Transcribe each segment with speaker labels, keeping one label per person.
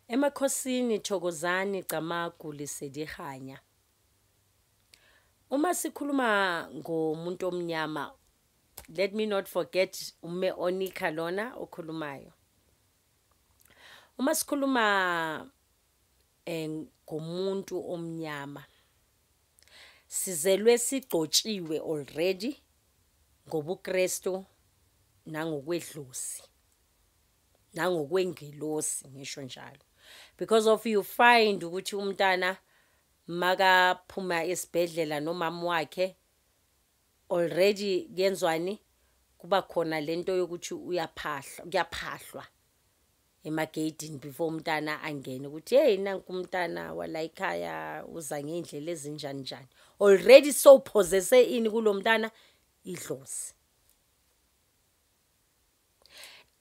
Speaker 1: Emakhosini Thokozani Camagu Lisedihanya. Uma sikhuluma ngomuntu omnyama let me not forget ume Onika lona okhulumayo. Uma sikhuluma eh, ngomuntu omnyama sizelwe sigcotshiwe already ngobuKristu nangokwedlozi. nangokwengelosi ngisho njalo because of you find ukuthi umntana makaphuma esibhedlela nomama wakhe already kuyenzwani kuba khona lento yokuthi uyaphahlwa kuyaphahlwa emageyidini before umntana angene ukuthi hey nanku umntana wala ekhaya uza ngendlela ezinjani njani already so possesse ini kulomntana idlozi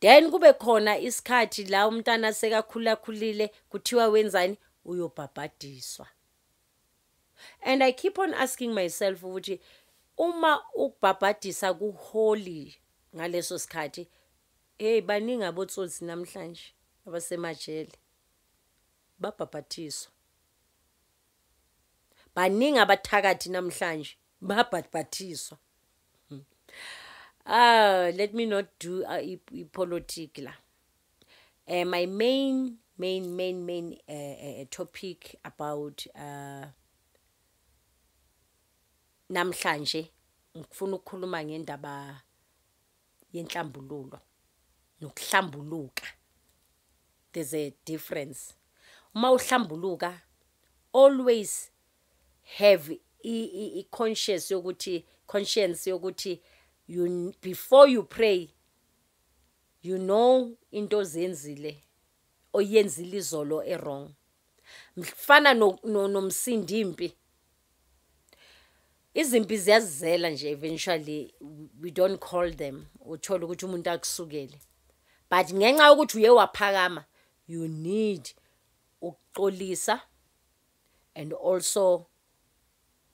Speaker 1: then kube khona isikhathi la umntana sekakhulakhulile kuthiwa wenzani uyobhabhadiswa and i keep on asking myself ukuthi uma ukubhabhadisa kuholy ngaleso sikhathi hey baningi abotsotsi namhlanje abasemajele babhabhathiswa baningi abathakathi namhlanje babhathathiswa hmm. ah let me not do uh, ipolitic la uh, my main main main main uh, uh, topic about uh, namhlanje ngifuna ukukhuluma ngendaba yenhlambululo nokuhlambuluka there's a difference uma uhlambuluka always have i conscious yokuthi conscience yokuthi you before you pray you know into ozenzile oyenzile izolo ewrong mfana nomsindi impi izimpi ziyazizela nje eventually we don't call them uthole ukuthi umuntu akusukele but ngenxa yokuthi uye waphakama you need ukuxolisa and also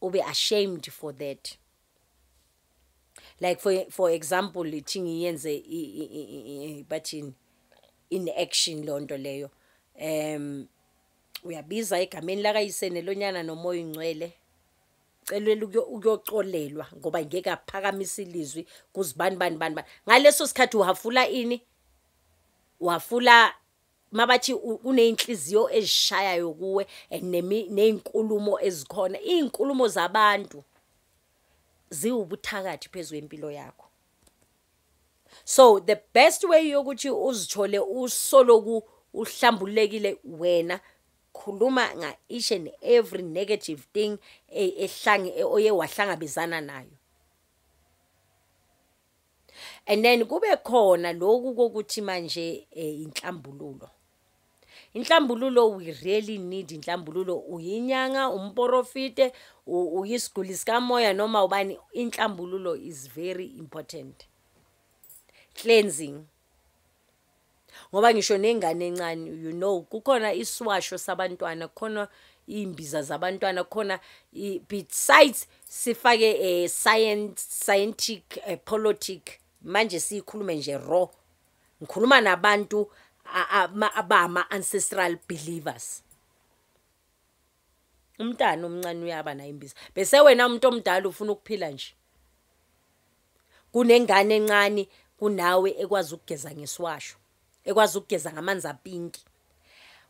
Speaker 1: ube ashamed for that like for for example lithi ngiyenze bathini in action lonto leyo um uyabiza egameni lakayise nelonyana nomoya ingcwele celwela ukuyocolelwa ngoba ngeke aphakamisa ilizwi kuzibani bani bani bani ngaleso sikhathi uhafula ini wafula mabathi kuneyinhliziyo ezishayayo kuwe nezinkulumo ezikhona izinkulumo zabantu ziwubuthakathi phezulu empilo yakho so the best way yokuthi uzithole usoloku uhlambulekile wena khuluma nga each and every negative thing e, ehlange e, oye wahlangabezana nayo and then kube khona lokhu kokuthi manje eh, inhlambululo inhlambululo we really need inhlambululo uyinyanga umporofite uyisiguli sikamoya noma ubani inhlambululo is very important cleansing ngoba ngisho nengane encane you know kukhona isiwasho sabantwana kukhona imbiza zabantwana khona besides sifake eh science scientific eh, politic manje sikhulume nje raw ngikhuluma nabantu abama ancestral believers umntana omncane uyaba naye imbiza bese wena umuntu omdala ufuna ukuphila nje kunengane encane kunawe ekwazi ukugeza ngesiwasho ekwazi ukugeza ngamanzi apinki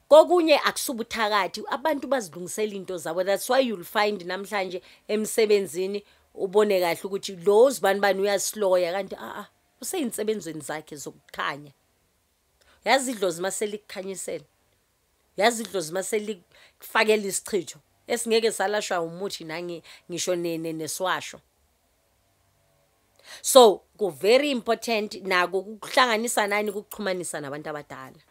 Speaker 1: kokunye akusubuthakathi abantu bazilungisela into zabo that's why you'll find namhlanje emsebenzini ubone kahle ukuthi lo uzibani bani uyasloya kanti a ah, a ah, useyinsebenzweni zakhe zokukhanya yazi idlozi uma selikukhanyisela yazi idlozi uma selikufakela isichitho esingeke salashwa umuthi nangi ngisho nene neswasho so ku very important nako ukuhlanganisa nani ukuxhumanisa nabantu abadala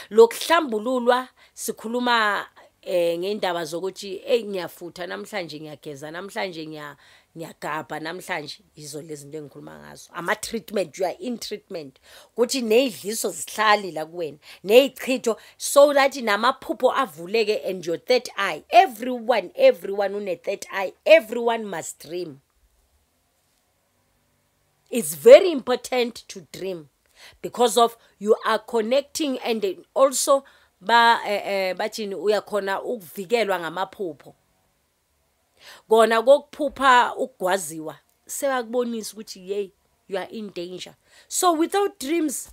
Speaker 1: lokuhlambululwa sikhuluma eh ngendaba zokuthi hey ngiyafutha namhlanje ngiyageza namhlanje ngiya ngiyagabha namhlanje yizo lezi zinto engikhuluma ngazo ama treatment you are in treatment ukuthi nezidliso zihlali la kuwena nezichitho so that namaphupho avuleke and your third eye everyone everyone une third eye everyone must dream it's very important to dream because of you are connecting and also ba eh, eh bathini uyakhona ukuvikelwa ngamaphupho kona kokuphupha ukugwaziwa sebakubonisa ukuthi yey you are in danger so without dreams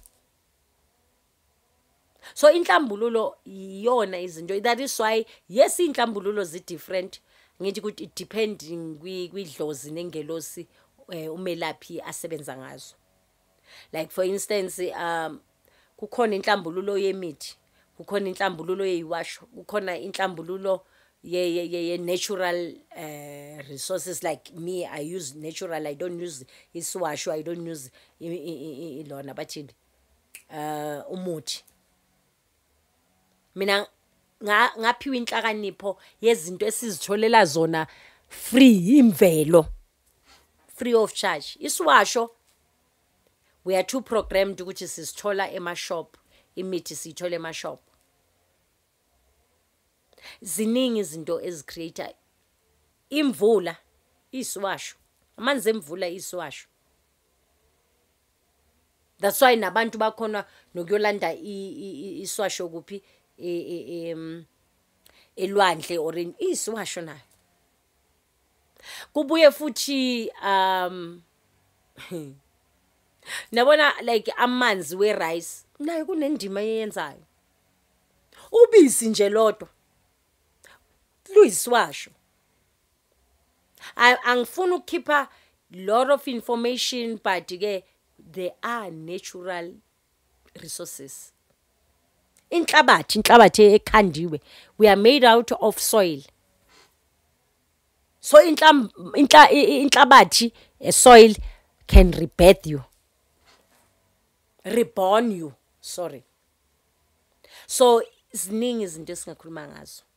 Speaker 1: so inhlambululo iyona izinto that is why yes inhlambululo zi different ngithi ukuthi it depend kwidlozi nengelosi eh, umelaphi asebenza ngazo like for instance um kukhona inhlambululo yemithi kukhona inhlambululo yeyiwasho kukhona inhlambululo ye ye ye, ye natural uh, resources like me i use natural i don't use isiwasho i don't use ilona bathini eh umuthi mina ngaphiwa inhlakanipho yezinto esizitholela zona free imvelo free of charge isiwasho we are too programmed ukuthi sisithola emashop imithi siyithola emashop ziningi izinto ezicreate imvula isiwasho amanzi emvula isiwasho that's why nabantu bakhona nokuyolanda iswasho kuphi e, e, e, mm, elwandle or isiwasho nayo kubuye futhi um nabona like amanzi we rice nayo kunendima eyenzayo ubisi nje lodwa luyisiwasho angifuni ukukhipha lot of information but ke there are natural resources inhlabathi inhlabathi ekhandiwe we are made out of soil so inhlabathi a soil can rebirth you reborn you sorry so ziningi izinto esingakhuluma ngazo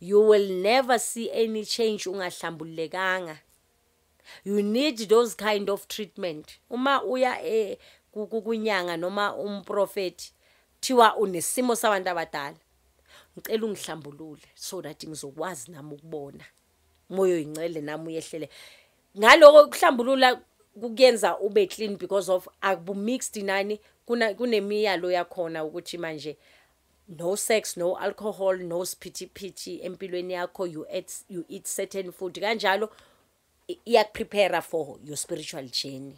Speaker 1: you will never see any change ungahlambululekanga you need those kind of treatment uma uya e kukunyanga noma umprofeti thiwa unesimo sabantu abadala ngicela ungihlambulule so that ngizokwazi nami ukubona moyo yincele nami uyehlele ngaloko kuhlambulula kukuyenza ube clean because of akubu mixed nani kuna kunemiyalo yakhona ukuthi manje no sex no alcohol no siphithiphithi empilweni yakho you eat, you eat certain food kanjalo iyakuprepare for your spiritual journey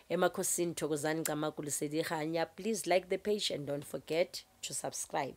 Speaker 1: emakhosini thokozani camakulisedikhanya please like the page and don't forget to subscribe